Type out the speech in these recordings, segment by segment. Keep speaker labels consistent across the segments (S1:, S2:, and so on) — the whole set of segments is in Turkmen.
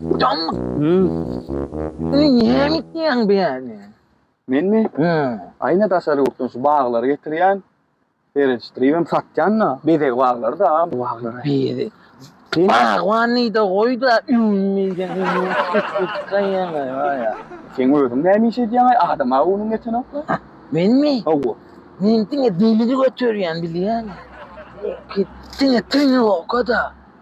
S1: Utanma. Sen niye gitýäň bu ýerden? Menmi?
S2: Hä. Aýna daşary ýurtdan şu baglary getirýän. Seredişdiribem satýan-da. Bezeg baglary-da bu baglar. Bezeg.
S1: Bagban diýde goý-da ünmeden ýa-ýa. Sen özüň näme
S2: iş edýäň-aý? Adam-a göwnüň ýetenok-la. Menmi? Hawa.
S1: Men
S2: diňe
S1: delil göterýän bilýäňmi? Diňe teňňe oka-da.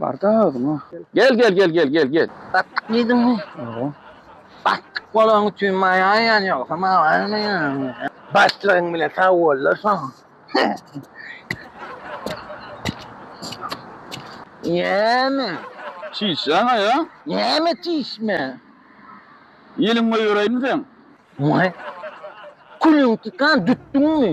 S2: Barda özüňe. Gel gel gel gel gel gel. Batdyk
S1: diýdiňmi? Ýa.
S2: Batdyk
S1: bolaň üçin maýa ýan ýogsa maýa ýan. Başlygyň bile sag bollar soň. Näme?
S2: Çişýäňä ýa? Näme çişme? Ýeliň goýberäými seň? Maý.
S1: Külüň çykan dütdüňmi?